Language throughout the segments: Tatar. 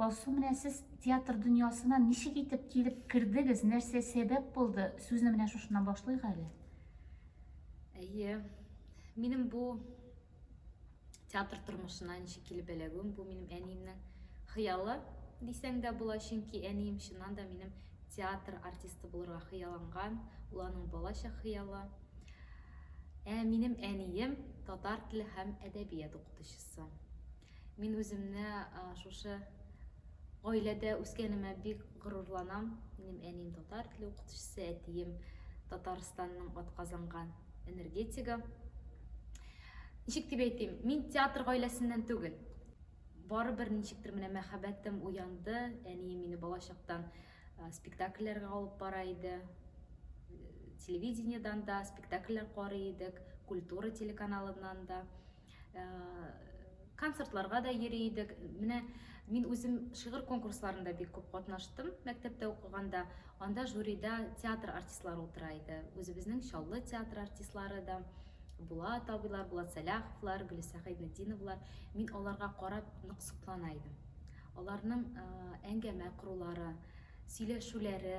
Алсу, менә сез театр дөньясына ничек итеп килеп кердегез, нәрсә сәбәп булды? Сүзне менә шушыннан башлыйк әле. Әйе, минем бу театр тормышына ничек килеп эләгүем, бу минем әниемнең хыялы дисәң дә була, чөнки әнием чыннан да минем театр артисты булырга хыялланган, ул аның балача хыялы. Ә минем әнием татар теле һәм әдәбият укытучысы. соң. Мин үземне шушы гаиләдә үскәнемә бик горурланам. Минем әнием татар теле укытучысы, әтием Татарстанның атказанган энергетигы. Ничек дип әйтим, мин театр гаиләсеннән түгел. Барыбер ничектер менә мәхәббәтем уянды. Әнием мине балачактан спектакльләргә алып бара иде. Телевидениедән дә спектакльләр карый идек, культура телеканалыннан да. Э, концертларга да йөри идек. Менә мин үзем шигырь конкурсларында бик күп катнаштым мәктәптә укыганда. Анда жюрида театр артистлары утыра иде. Үзебезнең Чаллы театр артистлары да була табилар, була Сәләховлар, Гөлисә Хәйнетдиновлар. Мин аларга карап нык соклана идем. Аларның э, әңгәмә корулары, сөйләшүләре,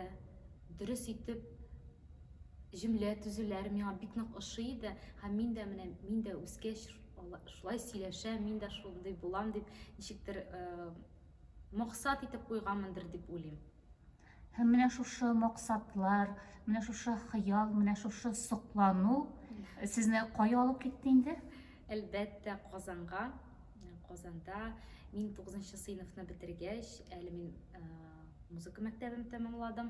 дөрес итеп Җөмлә төзүләре миңа бик нык ошый иде һәм мин дә менә мин дә үскәч шулай сөйләшәм, мин дә шундый булам дип ничектер максат итеп куйганмындыр дип уйлыйм. Һәм менә шушы максатлар, менә шушы хыял, менә шушы соклану сезне кая алып китте инде? Әлбәттә, Казанга. Казанда мин 9 сыйныфны бетергәч, әле мин музыка мәктәбен тәмамладым.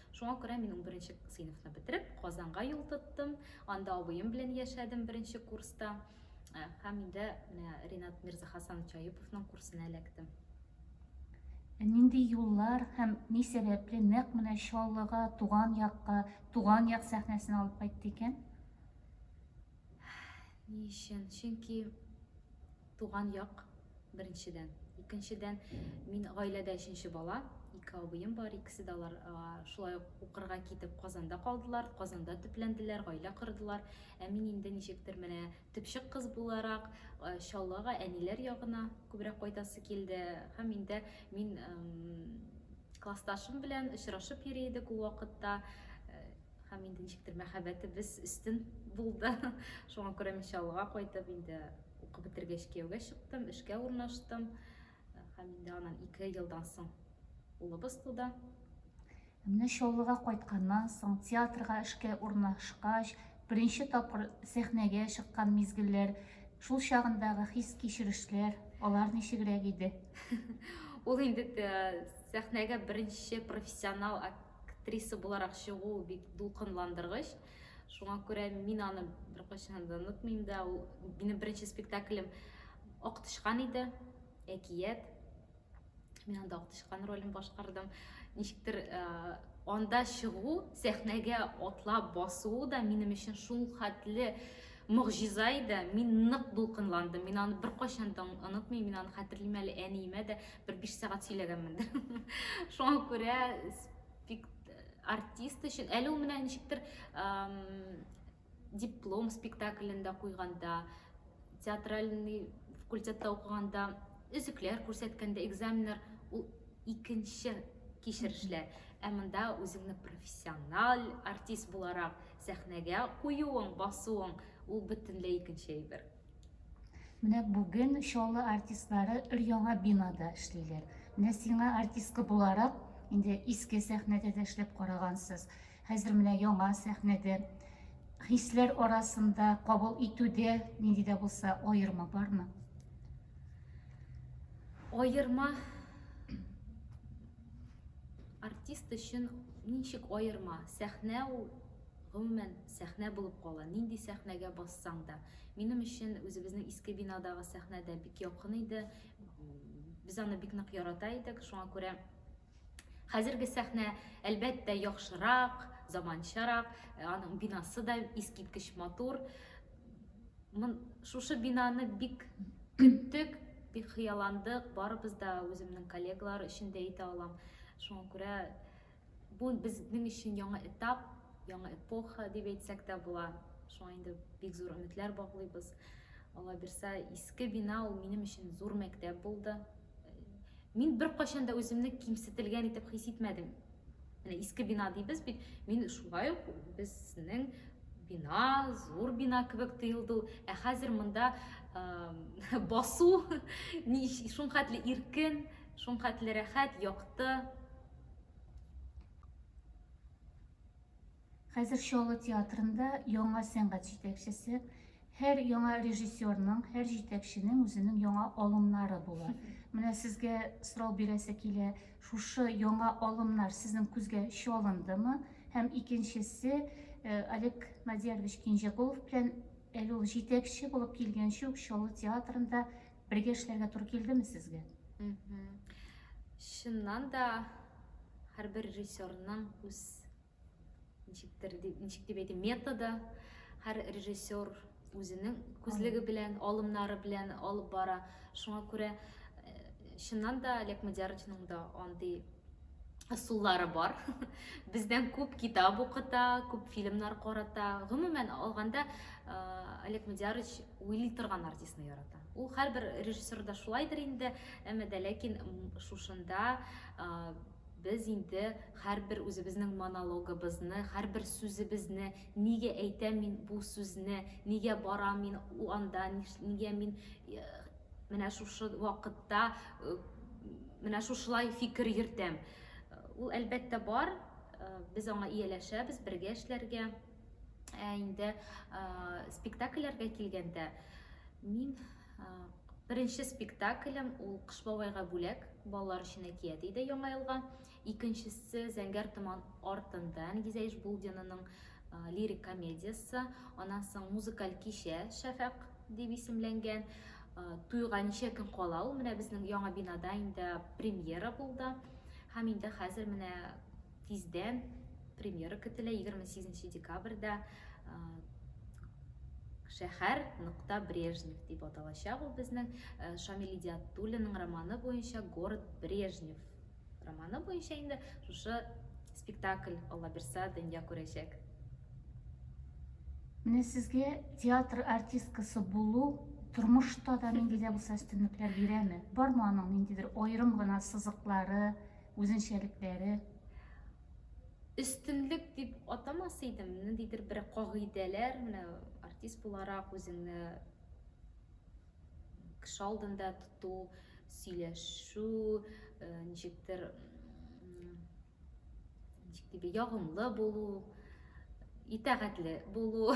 Шуңа күрә мин унберенче сыйныфны бетереп, Казанга юл тоттым. Анда абыем белән яшәдем беренче курста. Э, һәм инде менә Ринат Мирзахасанович Аюповның курсына эләктем. Ә нинди юллар һәм ни сәбәпле нәкъ менә Чаллыга, туган якка, туган як сәхнәсен алып кайтты икән? Ни өчен? Чөнки туган як Беренчедән. Икенчедән, мин гаиләдә өченче бала. Ике абыем бар, икесе дә алар шулай ук укырга китеп Казанда калдылар, Казанда төпләнделәр, гаилә кордылар. Ә мин инде ничектер менә төпчек кыз буларак Чаллыга, әниләр ягына күбрәк кайтасы килде. Һәм инде мин классташым белән очрашып йөри идек ул вакытта. Һәм инде ничектер мәхәббәтебез өстен булды. Шуңа күрә мин Чаллыга кайтып, инде укып бетергәч кияүгә чыктым, эшкә урнаштым. Һәм инде аннан ике елдан соң улыбыз туды. Менә Чаллыга кайтканнан соң, театрга эшкә урнашкач, беренче тапкыр сәхнәгә чыккан мизгелләр, шул чагындагы хис-кичерешләр, алар ничегрәк иде? Ул инде сәхнәгә беренче профессионал Актриса буларак чыгу бик дулкынландыргыч. Шуңа күрә мин аны беркайчан да онытмыйм да. Ул минем беренче спектаклем Ак тычкан иде, әкият. Мин анда Ак тычкан ролен башкардым. Ничектер э, анда чыгу, сәхнәгә атлап басуы да минем өчен шул хәтле могҗиза иде. Мин нык дулкынландым. Мин аны беркайчан да онытмыйм. Мин аны хәтерлим әле әниемә дә. Бер биш сәгать сөйләгәнмендер. Шуңа күрә артист өчен әле ул менә ничектер диплом спектаклендә куйганда, театральный факультетта укыганда, өзекләр күрсәткәндә, экзаменнар ул икенче кичерешләр. Ә монда үзеңне профессиональ артист буларак сәхнәгә куюың, басуың ул бөтенләй икенче әйбер. Менә бүген Чаллы артистлары өр-яңа бинада эшлиләр. Менә сиңа артистка буларак, инде иске сәхнәдә дә эшләп карагансыз. Хәзер менә яңа сәхнәдә хисләр арасында кабул итүдә нинди дә булса аерма бармы? Аерма артист өчен ничек аерма? Сәхнә ул гомумән Сәхнә булып кала, нинди сәхнәгә бассаң да. Минем өчен үзебезнең иске бинадагы сәхнә дә бик якын иде. Без аны бик нык ярата идек, шуңа күрә хәзерге сәхнә, әлбәттә, яхшырак, заманчарак, аның бинасы да искиткеч матур. Мон, шушы бинаны бик көттек, бик хыялландык, барыбыз да, үземнең коллегалар өчен дә әйтә алам. Шуңа күрә Бу безнең өчен яңа этап, яңа эпоха дип әйтсәк тә була. Шуңа инде бик зур өметләр баглыйбыз. Алла бирсә, иске бина ул минем өчен зур мәктәп булды. Мин беркайчан да үземне кимсетелгән итеп хис итмәдем. Менә иске бина дибез бит, мин шулай ук безнең бина, зур бина кебек тоелды ул. Ә хәзер монда басу шулхәтле иркен, шулхәтле рәхәт, якты. Хәзер Чаллы театрында яңа сәнгать җитәкчесе, һәр яңа режиссерның, һәр җитәкченең үзенең яңа алымнары була. Менә сезгә сорау бирәсе килә, шушы яңа алымнар сезнең күзгә чалындымы? Һәм икенчесе, э, Олег Надярович Кинҗәкулов белән әле ул җитәкче булып килгәнче үк Чаллы театрында Бергә эшләргә туры килдеме сезгә? Чыннан да һәрбер режиссерның үз ничектер ничек дип әйтим методы һәр режиссер үзенең күзлеге белән алымнары белән алып бара шуңа күрә э, чыннан да олег мадяровичның да андый ысуллары бар. Бездән күп китап укыта, күп фильмнар карата. Гомумән алганда, Олег Мадиярович уйлый торган артистны ярата. Ул һәрбер режиссер да шулайдыр инде, әмма дә ләкин шушында без инде һәрбер үзебезнең монологыбызны, һәрбер сүзебезне, нигә әйтәм мин бу сүзне, нигә барам мин анда, нигә мин Менә шушы вакытта менә шушылай фикер йөртәм. Ул әлбәттә бар, без аңа ияләшәбез, бергә эшләргә. Ә инде спектакльләргә килгәндә, мин беренче спектаклем ул Кыш бабайга бүләк, балалар өчен әкият иде Яңа елга. Икенчесе Зәңгәр томан артында Нигизә Ишбулдинаның лирик комедиясе. Аннан соң музыкаль кичә Шәфәк дип исемләнгән. Туйга ничә көн кала ул менә безнең яңа бинада инде премьера булды. Һәм инде хәзер менә тиздән премьера көтелә 28 декабрьдә шәһәр нокта брежнев дип аталачак ул безнең шамил идиатуллинның романы буенча город брежнев романы буенча инде шушы спектакль алла бирсә дөнья күрәчәк менә сезгә театр артисткасы булу тормышта да нинди дә булса өстенлекләр бирәме бармы аның ниндидер аерым гына сызыклары үзенчәлекләре өстенлек дип атамас идем ниндидер бер кагыйдәләр менә артист буларак үзеңне Кеше алдында тоту, сөйләшү, ничектер ничек дип ягымлы булу, итәгатьле булу.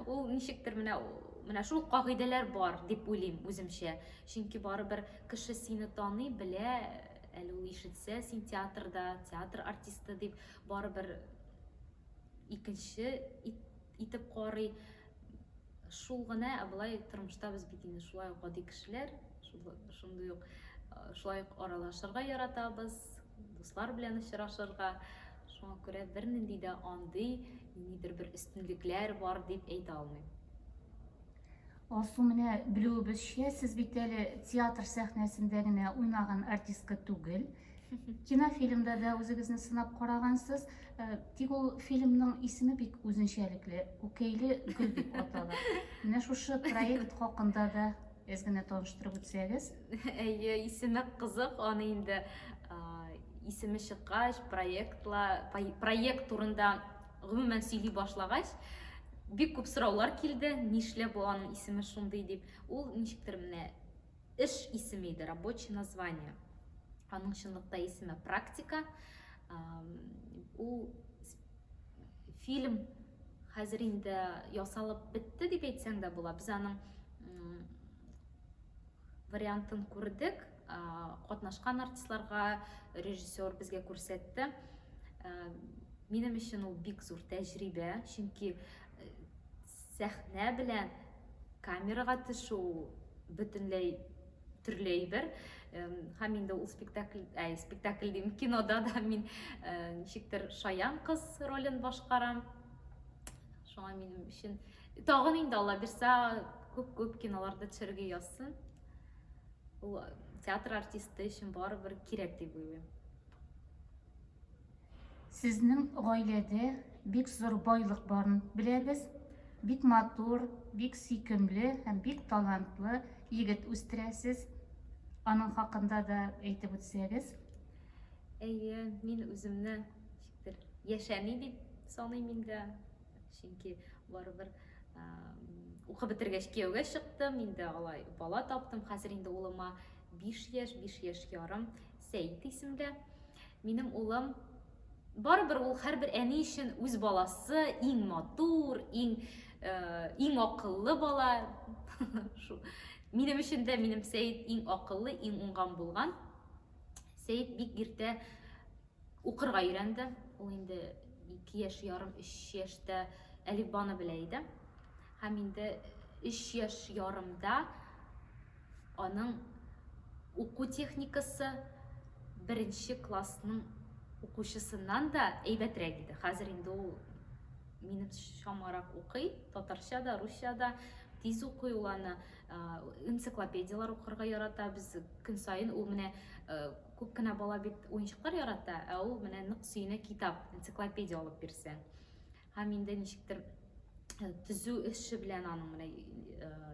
Ул ничектер менә менә шул кагыйдәләр бар дип уйлыйм үземчә. Чөнки барыбер кеше сине таный, белә, әле ул ишетсә син театрда, театр артисты дип барыбер икенче итеп карый шул гына ә болай тормышта без бит инде шулай ук гади кешеләр шундый ук шулай ук аралашырга яратабыз дуслар белән очрашырга шуңа күрә бернинди дә андый нидер бер өстенлекләр бар дип әйтә алмыйм Алсу менә белүебезчә, сез бит әле театр сәхнәсендә генә уйнаган артистка түгел. Кинофильмда да үзегезне сынап карагансыз, э, тик ул фильмның исеме бик үзенчәлекле, Күкәйле гөл дип атала. Менә шушы проект хакында да әз генә таныштырып үтсәгез. Әйе, исеме кызык, аны инде исеме чыккач, проектла проект турында гомумән сөйли башлагач, бик күп сораулар килде, нишләп бу аның исеме шундый дип. Ул ничектер менә Эш исеме иде, рабочий название. Аның чынлыкта исеме практика. Ул фильм хәзер инде ясалып бетте дип әйтсәң дә була. Без аның вариантын күрдек, катнашкан артистларга режиссер безгә күрсәтте. Минем өчен ул бик зур тәҗрибә, чөнки Сәхнә белән камерага төшү ул бөтенләй төрле әйбер. Һәм инде ул спектакль, әй, спектакль дим, кинода да мин ничектер шаян кыз ролен башкарам. Шуңа минем өчен тагын инде Алла бирсә күп-күп киноларда төшәргә язсын. Ул театр артисты өчен барыбер кирәк дип уйлыйм. Сезнең гаиләдә бик зур байлык барын беләбез. Бик матур, бик сөйкемле һәм бик талантлы егет үстерәсез. Аның хакында да әйтеп үтсәгез. Әйе, мин үземне ничектер яшәми дип саныйм инде. Чөнки барыбер укып бетергәч кияүгә чыктым, инде алай бала таптым. Хәзер инде улыма 5 яшь, 5 яшь ярым Сәйд исемле. Минем улым, барыбер ул һәрбер әни өчен үз баласы, иң матур, иң иң акыллы бала. Минем өчен дә минем Сәет иң акыллы, иң уңган булган. Сәет бик иртә укырга өйрәнде. Ул инде 2 яшь ярым, 3 яшьтә әлифбаны белә иде. Һәм инде 3 яшь ярымда Аның уку техникасы беренче классның укучысыннан да әйбәтрәк иде. Хәзер инде ул минем чамарак укый, татарча да, русча да тиз укый ул аны. Энциклопедияләр укырга ярата. Без көн саен ул менә күп кенә бала бит уенчыклар ярата, ә ул менә нык сөенә китап, энциклопедия алып бирсәң. Һәм инде ничектер төзү эше белән аның менә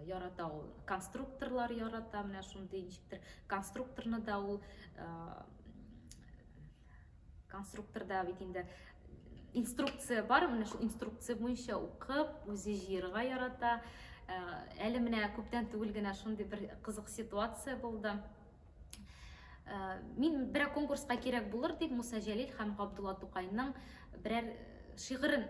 ярата ул конструкторлар ярата менә шундый ничектер конструкторны да ул конструкторда бит инде инструкция бар менә шул инструкция буенча укып үзе җыерга ярата әле менә күптән түгел генә шундый бер кызык ситуация булды Э, мин берәр конкурска кирәк булыр дип Муса Җәлил һәм Габдулла Тукайның берәр э, шигырен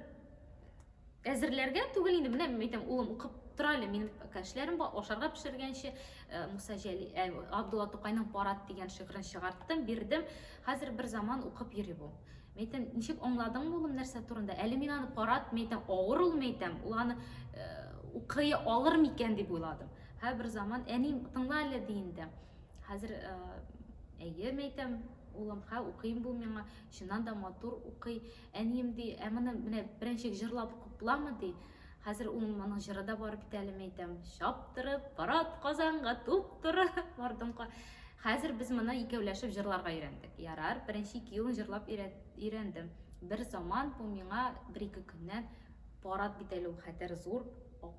әзерләргә түгел инде менә әйтәм улым укып тора әле минем кәшләрем бар ашарга пешергәнче э, Муса Җәли ә, Габдулла Тукайның Парад дигән шигырен чыгарттым бирдем хәзер бер заман укып йөри бу Мин әйтәм, ничек аңладың улым нәрсә турында? Әле мин аны карат, мин әйтәм, авыр ул, мин әйтәм, ул аны э, укый алыр микән дип уйладым. Һә бер заман әним тыңла әле ди инде. Хәзер э, әйе, мин әйтәм, улым, ха, укыйм бу миңа, чыннан да матур укый. Әнием ди, ә моны менә беренчек җырлап купламы ди. Хәзер ул моның җыры да бар бит әле, мәйтәм. Чаптырып, парад Казанга, туп туры, бардым ка. Хәзер без моны икәүләшеп җырларга өйрәндек. Ярар, беренче ике елын җырлап өйрәндем. Бер заман бу миңа бер-ике көннән парад бит әле ул хәтер зур,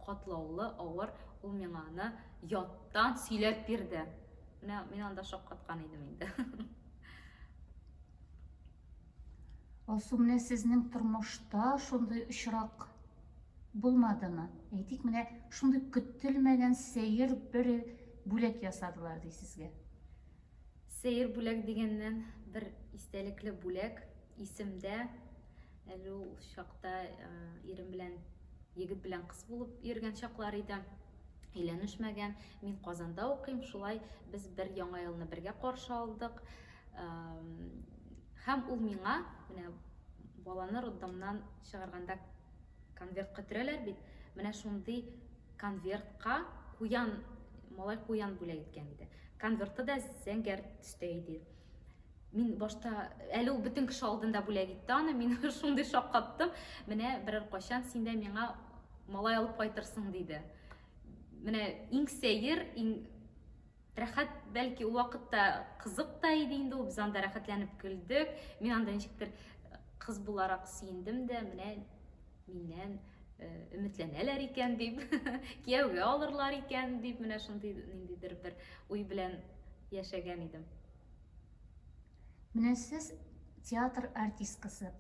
катлаулы, авыр, ул миңа аны яттан сөйләп бирде. Менә мин анда шаккаткан идем инде. Алсу, менә сезнең тормышта шундый очрак булмадымы? Әйтик, менә шундый көтелмәгән сәер бер бүләк ясадылар ди сезгә. Сәер бүләк дигәннән бер истәлекле бүләк исемдә. Әле ул чакта ирем белән егет белән кыз булып йөргән чаклар иде өйләнешмәгән мин казанда укыйм шулай без бер яңа елны бергә каршы алдык Һәм ул миңа, менә баланы роддомнан чыгарганда конвертка төрәләр бит, менә шундый конвертка куян, малай куян бүләк иткән иде. Конверты да зәңгәр төстә иде. Мин башта, әле ул бөтен кеше алдында бүләк итте аны, мин шундый шаккаттым. Менә берәр качан син дә миңа малай алып кайтырсың, диде. Менә иң сәер, иң Рәхәт, бәлки ул вакытта кызык та иде инде ул, без анда рәхәтләнеп көлдек. Мин анда ничектер кыз буларак сөендем дә, менә миннән өметләнәләр икән дип, кияүгә алырлар икән дип, менә шундый ниндидер бер уй белән яшәгән идем. Менә сез театр артисткасы.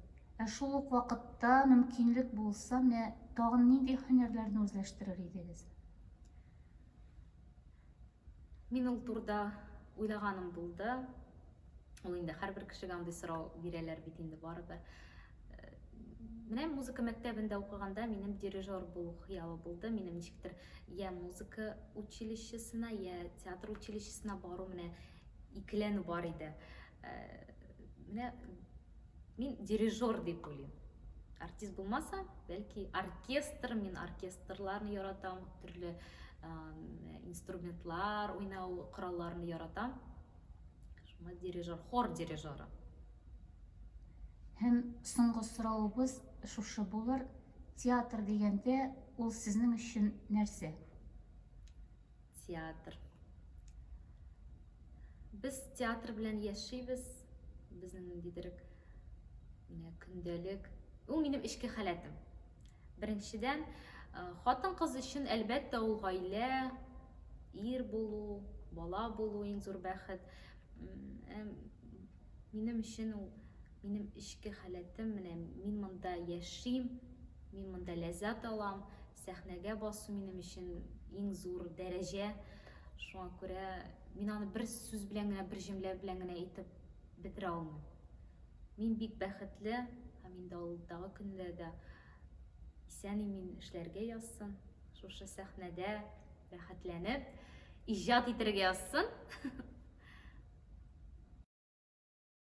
Ә шул ук вакытта мөмкинлек булса, менә тагын нинди һөнәрләрне үзләштерер идегез? Мин ул турда уйлаганым булды. Ул инде һәрбер кешегә андый сорау бирәләр бит инде барыбер. Э, менә музыка мәктәбендә укыганда минем дирижер булу хыялы булды. Минем ничектер я музыка училищесына, я театр училищесына бару менә икеләнү бар иде. Э, менә Мин дирижер дип уйлыйм. Артист булмаса, бәлки оркестр, мин оркестрларны яратам, төрле инструментлар уйнау коралларын яратам. Шуңа дирижер, хор дирижеры. Һәм соңгы соравыбыз шушы булыр. Театр дигәндә, ул сезнең өчен нәрсә? Театр. Без театр белән яшибез, безнең ниндидер үк, менә көндәлек. Ул минем эчке халәтем. Беренчедән, э, хатын-кыз өчен, әлбәттә, ул гаилә, ир булу, бала булу иң зур бәхет. Э, минем өчен ул минем эчке халәтем, менә мин монда яшим, мин монда ләззәт алам, Сәхнәгә басу минем өчен иң зур дәрәҗә. Шуңа күрә мин аны бер сүз белән генә, бер җөмлә белән генә әйтеп бетерә алмыйм. Мин бик бәхетле һәм инде алдагы көндә дә исән-имин эшләргә язсын, шушы сәхнәдә рәхәтләнеп иҗат итәргә язсын.